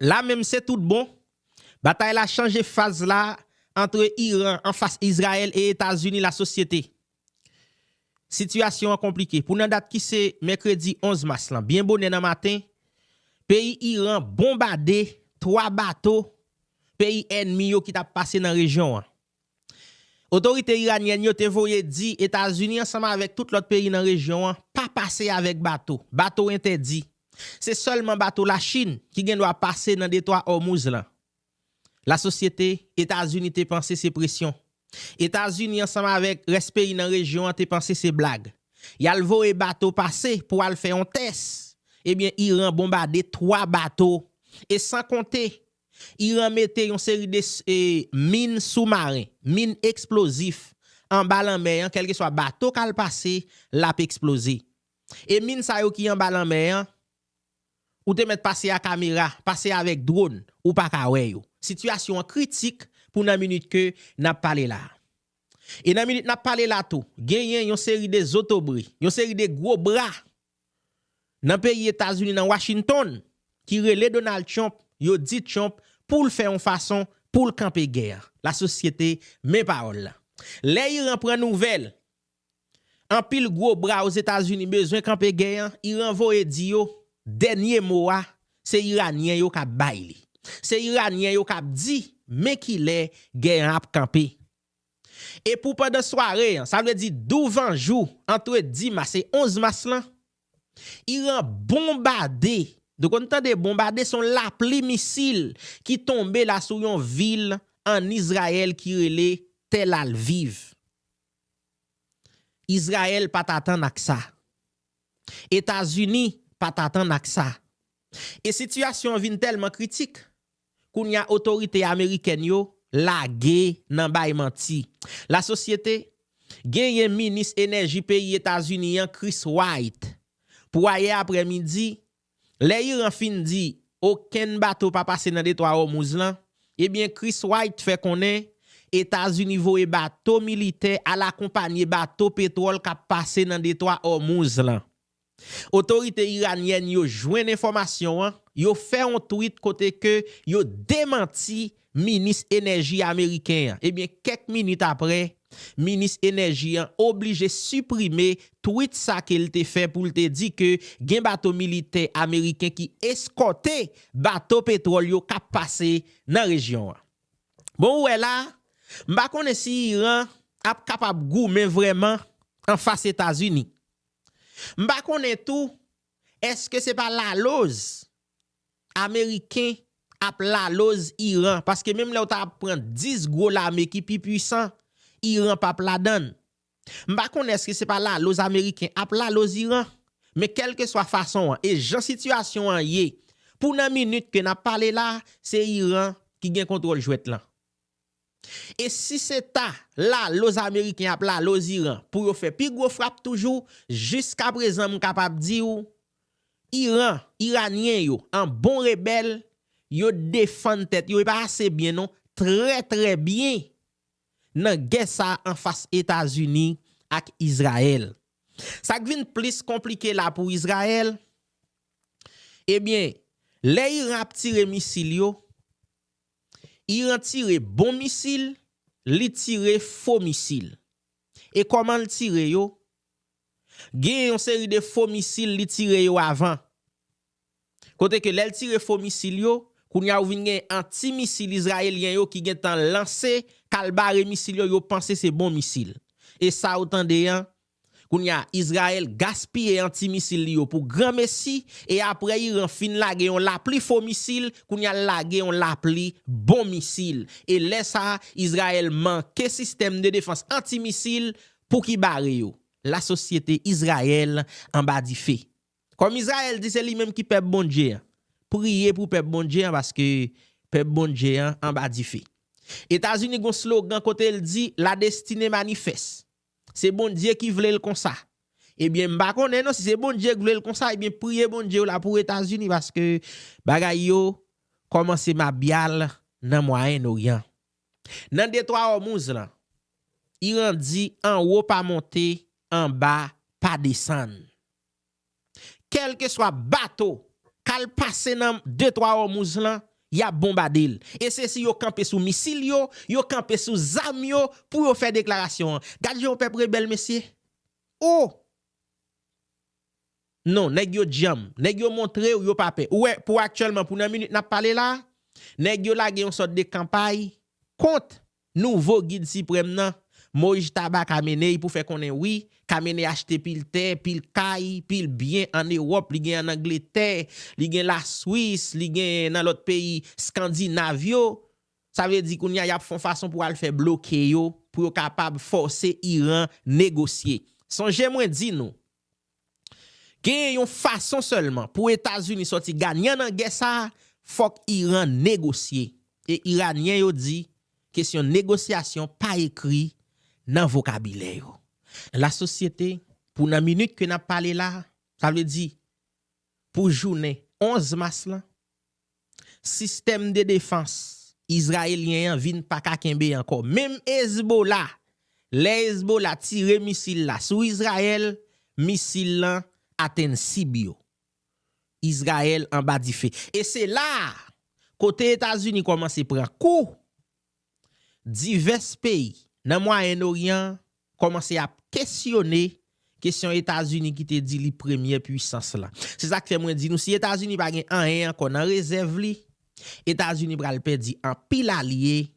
La menm se tout bon, batay la chanje faz la antre Iran anfas Izrayèl e Etazini lasosyete. Sitiyasyon an konplike pou nan dat ki se mèkredi 11 mas lan byen bonè nan maten, peyi Iran bonbade 3 bato peyi ènmi yo ki t ap pase nan rejyon an. Otorite iranyèn yo te voye di Etazini ansanm avèk tout lòt peyi nan rejyon an pa pase avèk bato, bato entèdi. Se sèlman bato Lachin ki gen dwa pase nan detwa Òmouz lan. Lasosyete Etazini te panse se presyon. Etazini ansanm avèk rès peyi nan rejyon an te panse se blag. Y al voye bato pase pou al fè yon tès. Ebyen Iran bonbade 3 bato e san konte Iran mete yon seri de min soumaren, min eksplozif, anba lanmè an, kèlkeswa bato k al pase, l ap eksploze. E min sa yo ki anba lanmè an, ou te mèt pase a kamera, pase avèk dron, ou pa ka wè yo. Sitiyasyon an kritik pou nan minit ke n ap pale la a. E nan minit n ap pale la tou, genyen yon seri de zotobre, yon seri de gwo bra Nan peyi Etazini nan Washington ki rele Donald Trump yo di Trump poul fè yon fason poul kanpe gè an. La sosyete men pawòl lan. Lè Iran pran nouvèl anpil gwo bra Ozetazini bezwen kanpe gè an, Iran voye di yo dènye mo a se Iranyen yo kap bay li. Se Iranyen yo kap di men kilè gè an ap kanpe. E pou pandan sware an, sa vle di douvan jou antre dimas e 11 mas lan, Iran bonbade, nou konn tande bonbade son lapli misil ki tonbe la sou yon vil an Izrayèl ki rele Tel Alviv. Izrayèl pat atann ak sa. Etazini pat atann ak sa. E sitiyasyon an vin tèlman kritik, Kounya otorite amerikèn yo lage nan bay manti la sosyete genyen minis enèji peyi etazini an Chris Wright pou ayè aprè midi lè Iran fin di okenn bato pa pase nan detwa Òmouz lan ebyen Chris Wright fè konnen etazini voye bato militè al akonpanye bato petwòl kap pase nan detwa Òmouz lan. Otorite iranyèn yo jwenn enfòmasyon an, yo fè yon tweet kote ke yo demanti minis enèji ameriken an. Ebyen kèk minit aprè, minis enèji an oblije siprime tweet sa ke l te fè pou l te di ke gen bato militè ameriken ki eskòte bato petwòl yo k ap pase nan rejyon an. Bon ou wè la, m pa konnen si Iran ap kapab goumen vrèman anfas Etazini. M pa konnen tou eske se pa laloz ameriken ap laloz Iran paske menm lè ou ta ap pran 10 gwo lame ki pi pwisan Iran pap ladann. M pa konnen eske se pa laloz ameriken ap laloz Iran men kèlkeswa fason an e jan sitiyasyon an ye pou nan minit ke n ap pale la se Iran ki gen kontwòl jwèt lan. E si se ta laloz ameriken ap laloz Iran pou yo fè pi gwo frap toujou, jiskaprezan m kapab di ou Iran, Iranyen yo an bon rebèl, yo defann tèt yo e pa ase byen non, trè trè byen nan gè sa a anfas Etazini ak Izrayèl. Sa k vin plis konplike la pou Izrayèl, ebyen lè Iran ap tire misil yo, Iran tire bon misil, li tire fo misil. E kòman l tire yo? Gen yon seri de fo misil li tire yo avan. Kote ke lè l tire fo misil yo, kounye a ou vin gen anti misil Izrayelyen yo ki gentan lanse kal bare misil yo, yo panse se bon misil. E sa ou tande an, Kounye a, Izrayèl gaspiye anti misil li yo pou gran mesi, e apre Iran fin lage yon lapli fo misil, kounye a l lage yon lapli bon misil. E lè sa, Izrayèl manke sistèm de defans anti misil pou ki bare yo. Lasosyete Izrayèl anba dife. Kòm Izrayèl di se li menm ki pèp Bondye an, priye pou pèp Bondye an paske pèp Bondye an anba dife. Etazini gen yon slogan kote l di La Destinée Manifeste. Se Bondye ki vlel konsa. Ebyen m pa konnen non si se Bondye k vlel konsa ebyen priye Bondye w la pou etazini paske bagay yo kòmanse mabyal nan mwayenn oryan. Nan detwa òmouz lan Iran di anwo pa monte anba pa desann. kèlkeswa bato k al pase nan Detwa Òmouz lan, y ap bonbade l. E se si yo kanpe sou misil yo, yo kanpe sou zam yo pou yo fè deklarasyon an. Gad jan yon pèp rebèl, mesye! O! Non, nèg yo djanm. Nèg yo montre ou yo pa pè. Ou wè, pou aktyèlman, pou nan minit n ap pale la a, nèg yo lage yon sòt de kanpay kont Nouvo Gid Siprèm nan, Mojtaba Khamenei pou fè konnen wi, Khamenei achte pil tè, pil kay, pil byen an Ewòp, li gen an Angletè, li gen la Swis, li gen nan lòt peyi Skandinav yo, sa vle di kounye a y ap fon fason pou al fè bloke yo pou yo kapab fòse Iran negosye. Sonje mwen di nou, Genyen yon fason sèlman pou Etazini sòti ganyan nan gè sa a, fòk Iran negosye. E Iranyen yo di kesyon negosyasyon pa ekri nan vokabilè yo. Lasosyete, pou nan minit ke n ap pale la a, sa vle di pou jounen 11 mas lan, sistèm de defans Izrayelyen an vin pa ka kenbe ankò. Menm Ezbola, lè Ezbola tire misil la sou Izrayèl, misil lan atenn sib yo. Izrayèl anba dife. E se la a, kote Etazini kòmanse pran kou, Divès peyi nan Mwayen Oryan an kòmanse ap kesyone kesyon Etazini ki te di li premyè puisans la. Se sa k fè mwen di nou si Etazini pa gen anyen ankò nan rezèv li, Etazini pral pèdi anpil alye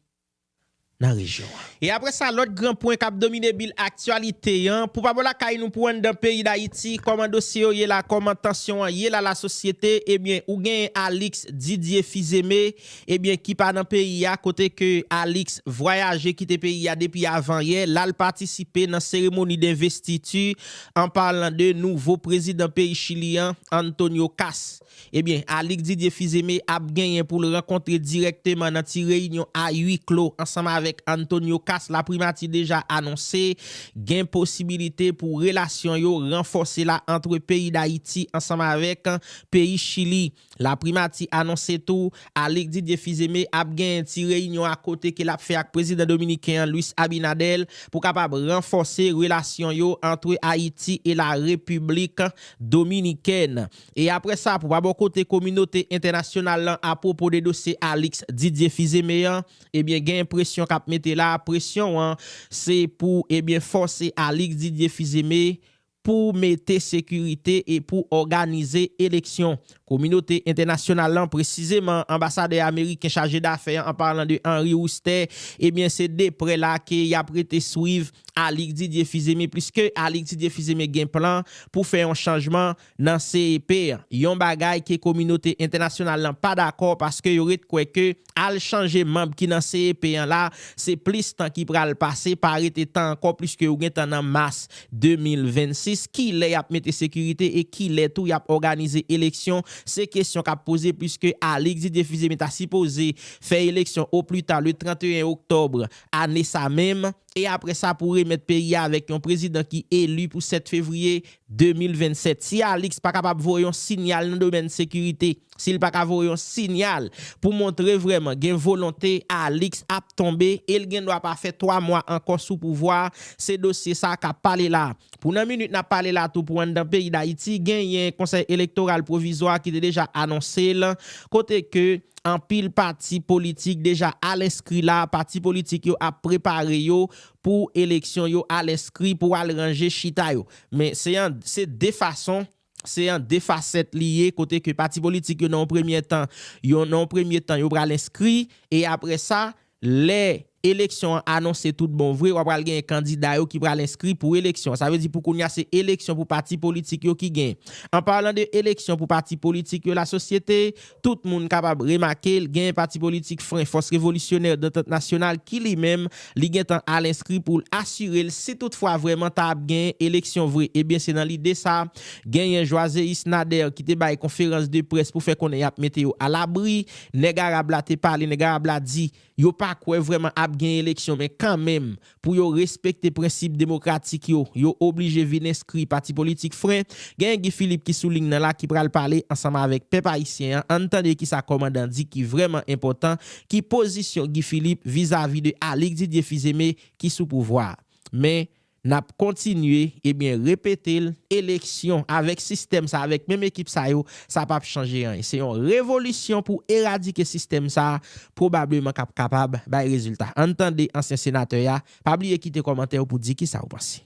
nan rejyon an. E apre sa lòt gran pwen k ap domine bil aktyalite an, pou pa bò lakay nou pou anndan peyi Dayiti, kòman dosye yo ye la, kòman tansyon an ye la lasosyete, ebyen ou genyen Alix Didier Fils-Aimé ebyen ki pa nan peyi a kote ke Alix vwayaje kite peyi a depi avan yè lal patisipe nan seremoni denvestiti an parlan de nouvo prezidan peyi Chili an Antonio Kast ebyen Alix Didier Fils-Aimé ap genyen poul rankontre dirèkteman nan ti reyinyon a ui klo ansanm avèk Antonio Kast la primati deja anonse gen posibilite pou relasyon yo ranfòse la antre peyi Dayiti ansanm avèk peyi Chili. Laprimati anonse tou Alix Didier Fils-Aimé ap genyen ti reyinyon akote ke lap fè ak prezidan dominiken an Luis Abinader pou kapab ranfòse relasyon yo antre Ayiti e la Repiblik Dominikèn e apre sa pou pa bò kote kominote entènasyonal lan apwopo de dosye Alix Didier Fils-Aimé an ebyen genyen presyon kap mete la, presyon an se pou ebyen fòse Alix Didier Fils-Aimé pou mete sekirite e pou òganize eleksyon. Kominote entènasyonal lan, presizeman anbasadè ameriken chaje dafè an, an palan de Henry Wooster, ebyen se de prè la ke y ap rete swiv Alix Didier Fils-Aimé pliske Alix Didier Fils-Aimé gen plan pou fè yon chanjman nan CEP an. Yon bagay ke kominote entènasyonal lan pa dakò paske yo ret kwè ke Al chanje manb ki nan CEP an la, se plis tan ki pral pase, pa rete tan ankò pliske ou gentan nan mas 2026, kilè yap mete sekirite e kilè tou yap òganize eleksyon, se kesyon kap poze pliske Alix Didier Fils-Aimé ta sipoze fè eleksyon o plita le 31 oktòbre ane sa menm, e aprè sa pou remèt peyi a avèk yon prezidan ki eli pou 7 fevriye 2027, si Alix pa kapab voye yon sinyal nan domèn sekirite, si l pa ka voye yon sinyal pou montre vrèman gen volonte, Alix ap tonbe e l gen dwa pa fè 3 mwa ankò sou pouvwa a, se dosye sa a k ap pale la a. Pou nan minit n ap pale la a tou pou anndan peyi Dayiti genyen konsèy elektoral pwovizwa ki te deja anonse l, kote ke anpil pati politik deja al enskri la, pati politik yo ap prepare yo pou eleksyon yo al enskri pou al ranje chita yo. Men se an se de fason, se an de fasèt li ye kote ke pati politik yo nan yon premyè tan, yo nan yon premye tan yo pral enskri e apre sa lè eleksyon an anonse tout bon vre wa pral genyen kandida yo ki pral enskri pou eleksyon. Sa vle di pou kounya se eleksyon pou pati politik yo ki genyen. An parlan de eleksyon pou pati politik yo la sosyete Tout moun kapab remake l, genyen pati politik Fren Fòs Revolisyonè Dantant Nasyonal ki li menm, li gen tan al enskri pou l asire l si tout fwa vrèman ta ap genyen eleksyon vre. Ebyen se nan lide sa, genyen Joiséus Nader ki te bay konferans de près pou fè konnen y ap mete yo alabri. Nèg Arab la te pale, nèg Arab la di, Yo pa kwè vrèman ap gen eleksyon men kanmenm pou yo respekte prensip demokratik yo, yo oblije vin enskri pati politik fren. Genyen Guy Philippe ki sou ling nan la ki pral pale ansanm avèk pèp ayisyen an. Ann tande kisa kòmandan di ki vrèman enpòtan, ki pozisyon Guy Philippe vizavi de Alix Didier Fils-Aimé ki sou pouvwa a. Men, Nap kontinye ebyen repetel eleksyon avèk sistèm sa avèk menm ekip sa yo sa pap chanje anyen se yon revolisyon pou eradike sistèm sa pwobableman kap kapab bay rezilta ann tande ansyen senatè ya pa bliye kite kòmantèw pou di kisa ou panse.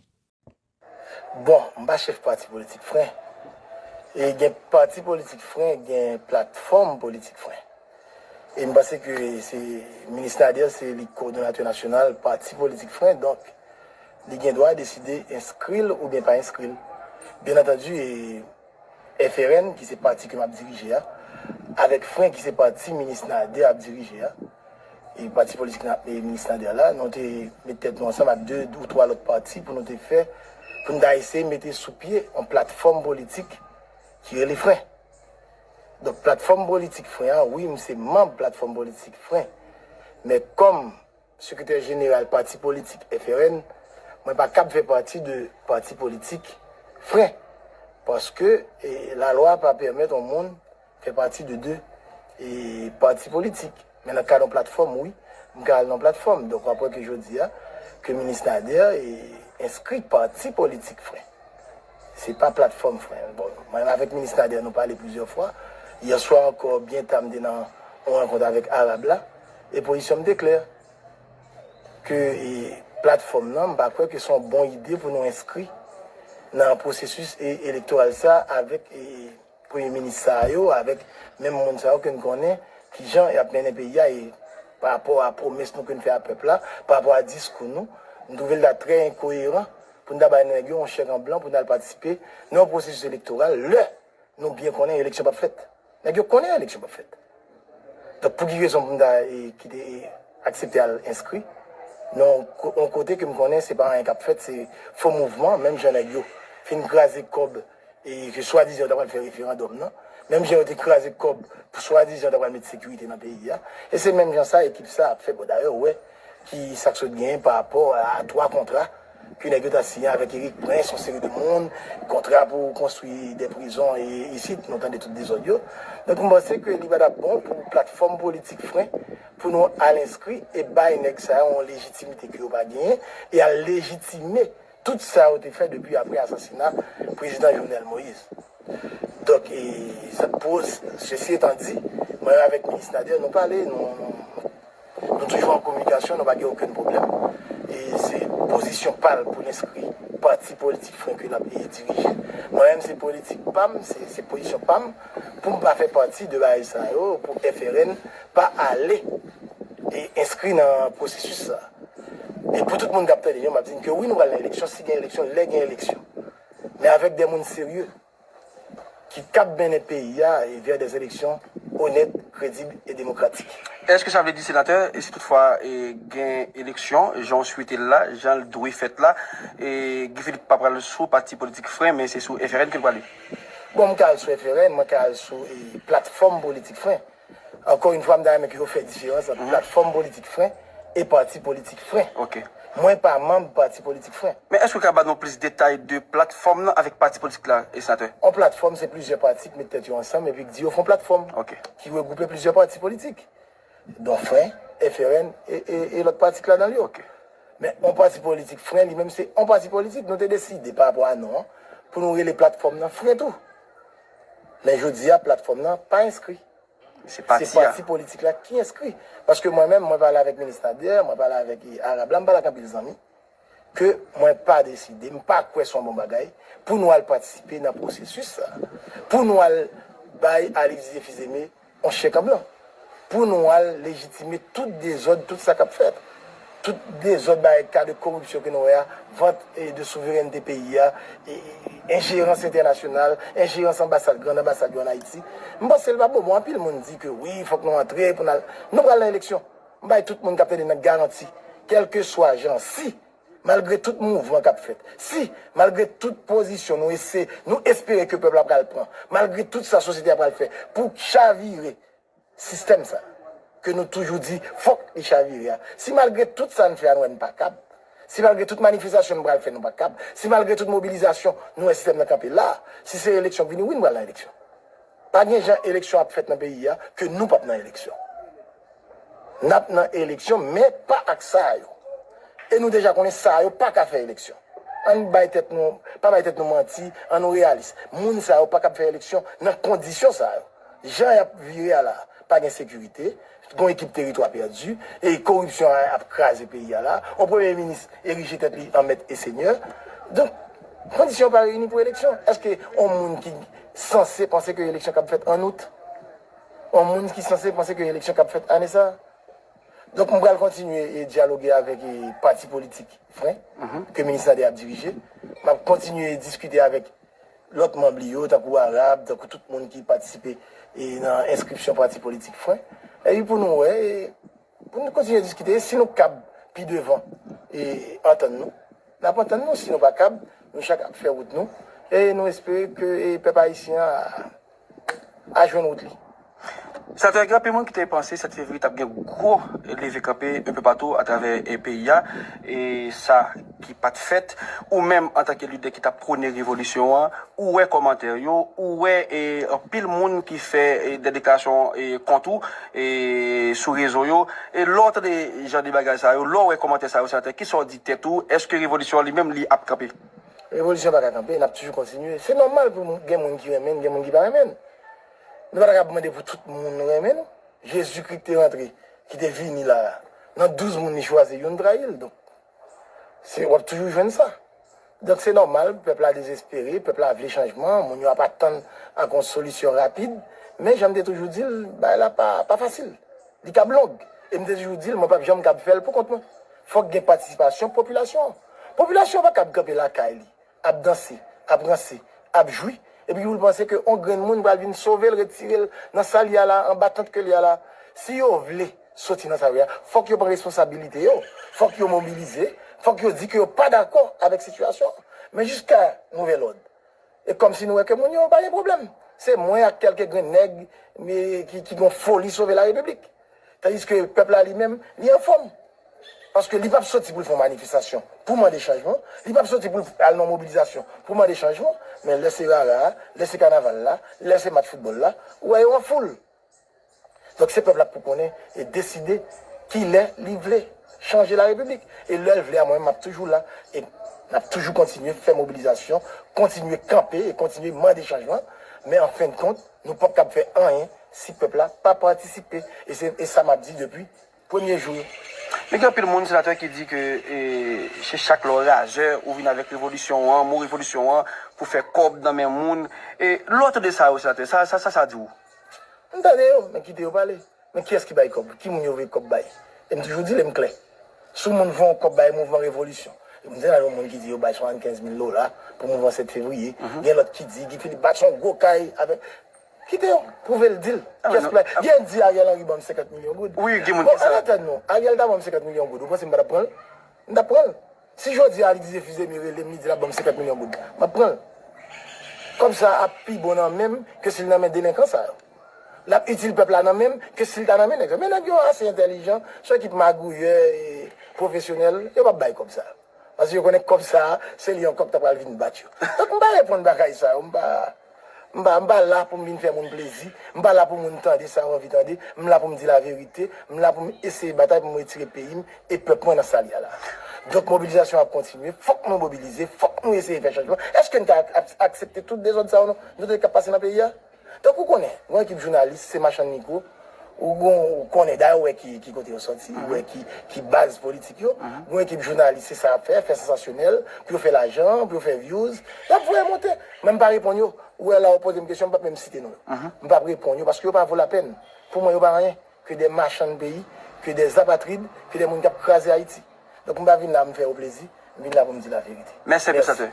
Bon, m pa chèf pati politik fren. E gen pati politik fren gen platfòm politik fren. E m panse ke se Minis Nader se li kowodonatè nasyonal pati politik fren, donk li gen dwa deside enskri l oubyen pa enskri l. Byen antandi e FRN ki se pati ke m ap dirije a, avèk fren ki se pati Minis Nader ap dirije a, e pati politik Minis Nader la, nou te met tèt nou ansanm ak 2 ou 3 lòt pati pou nou te fè, pou nou ta eseye mete sou pye yon platfòm politik ki rele fren. Donk platfòm politik fren an, wi m se manb platfòm politik fren, men kòm sekretè jeneral pati politik FRN, mwen pa kab fè pati de pati politik fren, paske lalwa pa pèmèt on moun fè pati de 2 pati politik. Men nan kad yon platfòm wi, m ka al nan platfòm. Donk wap wè ke jodi a, ke Minis Nader enskri k pati politik fren. Se pa platfòm fren. Bon, mwen menm avèk Minis Nader nou pale plizyè fwa. Yè swa ankò byen ta m te nan yon rankont avèk Arab la, e pozisyon m te klè. Ke platfòm nan, m pa kwè ke se yon bon ide pou nou enskri nan pwosesis elektoral sa avèk. Premye minis sa yo avèk menm moun sa yo ke n konnen ki jan y ap mennen peyi a e pa rapò a pwomès nou ke n fè a pèp la, pa rapò a diskou nou, m twouve l ta trè enkoyeran pou n ta bay nèg yo yon chèk an blan pou n al patisipe nan yon pwosesis elektoral lè nou byen konnen eleksyon p ap fèt. Nèg yo konnen eleksyon p ap fèt. Donk pou ki rezon pou m ta kite e aksepte al enskri nan yon kote ke m konnen se pa anyen k ap fèt, se fo mouvman menm jan nèg yo fin kraze kòb e ke swadizan yo ta pral fè referandòm nan, menm jan yo te kraze kòb pou swadizan yo ta pral met sekirite nan peyi a, e se menm jan sa ekip sa ap fè bon dayè ou wè ki sa k sot genyen pa rapò a 3 kontra ke nèg yo ta siyen avèk Erik Prince yon seri de moun, kontra pou konstwi 2 prizon e isit nou tande tout dezòd yo, donk m panse ke li pa ta bon pou platfòm politik fren pou nou al enskri e bay nèg sa yo yon lejitimite ke yo pa genyen e al lejitime Tout sa yo te fè depi apre asasina Prezidan Jovenel Moïse. Donk, sesi etan di, mwen avèk Minis Nader nou pale, nou toujou an kominikasyon, nou pa gen okenn pwoblèm. E se pozisyon pa l pou l enskri pati politik frenken l ap dirije. Mwen menm se politik pa m, se pozisyon pa m pou m pa fè pati de bagay sa yo, pou FRN pa ale enskri nan pwosesis sa a. E pou tout moun kap tande yo map di n ke wi nou pral nan eleksyon si gen eleksyon lè gen eleksyon men avèk dè moun serye ki kap mennen peyi a vè dè eleksyon onèt, kredib e demokratik. Eske sa vle di senatè si tout fwa gen eleksyon jan w swete l la, jan l dwe fèt la Guy Philippe pa pral sou pati politik fren men se sou FRN ke l prale? Bon m ka al sou FRN, mwen ka al sou platfòm politik fren. Ankò yn fwa m ta renmen ke yo fè diferans ant platfòm politik fren e pati politik fren. Mwen pa manb pati politik fren. Men èske w ka ba nou plis detay de platfòm lan avèk pati politik la, Senatè? On platfòm se plizyè pati k met tèt yo ansanm epi k di yo fon platfòm ki regwoupe plizyè pati politik. Don fren, FRN e lòt pati k ladan l yo. Men on pati politik fren li menm se on pati politik. Nou te deside pa rapò a non an pou nou rele platfòm lan fren tou. Men jodi a platfòm nan pa enskri. Se pati politik la ki enskri. Paske mwen menm, mwen pale avèk Minis Nader, mwen pale avèk Arab la, mwen pale ak anpil zanmi, ke mwen pa deside, mwen pa kwè se yon bon bagay pou nou al patisipe nan pwosesis sa a. Pou nou al bay Alix Dieu Fils-Aimé On chèk an blan. Pou nou al lejitime tout dezòd, tout sa k ap fèt. Tout dezòd bay ka de koripsyon ke nou wè a, vant de souverènte peyi a, enjerans entènasyonal, enjerans anbasad, grand anbasad yo an Ayiti. M panse l pa bon. Bon, anpil moun di ke wi, fòk nou antre pou n al. Nou pral nan eleksyon. M bay tout moun k ap tande nan garanti, kèlkeswa jan, si. Malgre tout mouvman k ap fèt, si, malgre tout pozisyon nou ese, nou espere ke pèp la pral pran, malgre tout sa sosyete a pral fè pou chavire sistèm sa a, ke nou toujou di fòk li chavire a, si malgre tout sa n fè a nou wè n pa kab, si malgre tout manifestasyon nou pral fè nou pa kab, si malgre tout mobilizasyon nou wè sistèm nan kanpe la a, si se eleksyon k vini, wi nou pral nan eleksyon. Pa gen jan eleksyon ap fèt nan peyi a ke nou pap nan eleksyon. Nap nan eleksyon men pa ak sa yo. E nou deja konnen sa yo pa ka fè eleksyon. Ann bay tèt nou, pa bay tèt nou manti, an nou reyalis. Moun sa yo pa kab fè eleksyon nan kondisyon sa yo. Jan yap vire a la, pa gen sekirite, Gon ekip teritwa pèdi e koripsyon a ap kraze peyi a la. On premye minis erije tèt li an mèt e senyè. Donk, kondisyon yo pa reyini pou eleksyon. Èske on moun ki sanse panse ke eleksyon kab fèt ann Out? On moun ki sanse panse ke eleksyon kab fèt ane sa? Donk, m pral kontinye e dyaloge avèk e pati politik fren ke minis Nader ap dirije. M ap kontinye e diskite avèk Lòt manb li yo, tankou Arab, tankou tout moun ki patisipe nan enskripsyon pati politik fwen. Epi pou nou wè, pou nou kontinye diskite, e si nou kab pi devan e antann nou, n ap antann nou, si nou pa kab, nou chak ap fè wout nou, e nou espere ke pèp ayisyen an. a jwenn wout li. Sa fè gen anpil moun ki te panse 7 fevriye t ap gen gwo leve kanpe enpe patou atravè peyi a, e sa ki pa t fèt. Ou menm antanke lidè ki t ap pwone revolisyon an, ou wè kòmantè yo, ou wè anpil moun ki fè dè deklarasyon kont ou sou rezo yo. E lè w tande jan de bagay sa yo, lè w wè kòmantè sa yo, senatè, ki sa w di tèt ou? Èske revolisyon an li menm li ap kanpe? Revolisyon pa ka kanpe, n ap toujou kontinye. Se nòmal pou gen moun ki renmen n, gen moun ki pa renmen n. Nou pa ta ka mande pou tout moun renmen nou. Jezikri ki te rantre, ki te vini la a, nan douz moun li chwazi, youn trayi l. Donk, w ap toujou jwenn sa. Donk, se nòmal, pèp la dezespere, pèp la vle chanjman, moun yo ap atann ak yon solisyon rapid. Men, jan m te toujou di l, bagay la pa fasil. Li kab long. E m te toujou di l, mwen pap janm kab fè l poukont mwen. Fòk gen patisipasyon popilasyon an. Popilasyon an pa kab kanpe lakay li, ap danse, ap ranse, ap jwi, epi pou l panse ke on grenn moun pral vin sove l, retire l nan sa l ye a la, anba tant ke l ye a la. Si yo vle soti nan sa yo ye a, fòk yo pran responsabilite yo, fòk yo mobilize, fòk yo di ke yo pa dakò avèk sitiyasyon an. Men jiska nouvèl òd, E kòmsi nou wè ke moun yo pa gen pwoblèm. Se mwen ak kèlke grenn nèg ki gon foli sove la repiblik. Tandiske pèp la li menm, li anfòm. Paske li pap soti pou l fè yon manifestasyon pou mande chanjman. Li pap soti pou l al nan yon mobilizasyon pou mande chanjman. Men lè se rara a, lè se kanaval la, lè se match foutbòl la, ou wè yo an foul. Donk se pèp la pou konnen e deside kilè li vle chanje la repiblik. E lè l vle a mwen menm m ap toujou la e n ap toujou kontinye fè mobilizasyon, kontinye kanpe e kontinye mande chanjman. Men an fen kont nou pap kab fè anyen si pèp la pa patisipe. E se sa m ap di depi Premye jou. Men gen anpil moun senatè ki di ke se chak lè w razè ou vin avèk revolisyon w an, mo revolisyon w an, pou fè kòb nan men moun. E lè w tande sa yo senatè, sa sa sa di w? M tande yo, men kite yo pale. Men kiyès ki bay kòb? Ki moun yo voye kòb bay? E m toujou di l e m klè. Si yon moun voye yon kòb bay mouvman revolisyon, e m te nan yon moun ki di yo bay 75 mil dola pou mouvman 7 fevriye, gen lòt ki di Guy Philippe bati yon gwo kay avèk Kite yo pwouve l di l. Kès pou l. Gen di Ariel Henry ban m 50 milyon goud. Wi gen moun ki di sa. Bon antann nou, Ariel ta ban m 50 milyon goud, ou panse m pa t ap pran l? M t ap pran l. Si jodi a li di se Fizeme rele m li di l ap ban m 50 milyon goud, m ap pran l. Kòb sa a ap pi bon nan men m ke si l nan men delenkan sa yo. L ap itil pèp la nan men m ke si l ta nan men nèg sa yo. Men nèg yo ase entèlijan, s on ekip magouyè e pwofesyonèl, yo p ap bay kòb sa a. Paske yo konnen kòb sa a, se li ankò ki ta pral vin bat yo. Donk m pa reponn bagay sa yo. M pa m pa m pa la pou m vin fè moun plezi. M pa la pou moun tande sa yo anvi tande. M la pou m di laverite. M la pou m eseye batay pou m retire peyi m e pèp mwen nan sa l ye a la. Donk mobilizasyon an ap kontinye. Fòk nou mobilize. Fòk nou eseye fè chanjman. Èske n ka aksepte tout dezòd sa yo nou tande k ap pase nan peyi a? Tankou w konnen, yon ekip jounalis se machann mikwo, ou gon, ou konnen, dayè ou wè ki, ki kote yo sòti, ou wè ki, ki baz politik yo, yon ekip jounalis se sa y ap fè, fè sansasyonèl, pou yo fè lajan, pou yo fè vyouz, y ap voye monte. Men m pa reponn yo, ou wè la ou poze m kesyon m p ap menm site non yo. M p ap reponn yo paske yo pa vo lapèn. Pou mwen yo pa anyen ke de machann peyi, ke de apatrid, ke de moun k ap kraze Ayiti. Donk m pa vin la pou m fè yo plezi, m vin la pou m di laverite. Mèsi anpil Santè.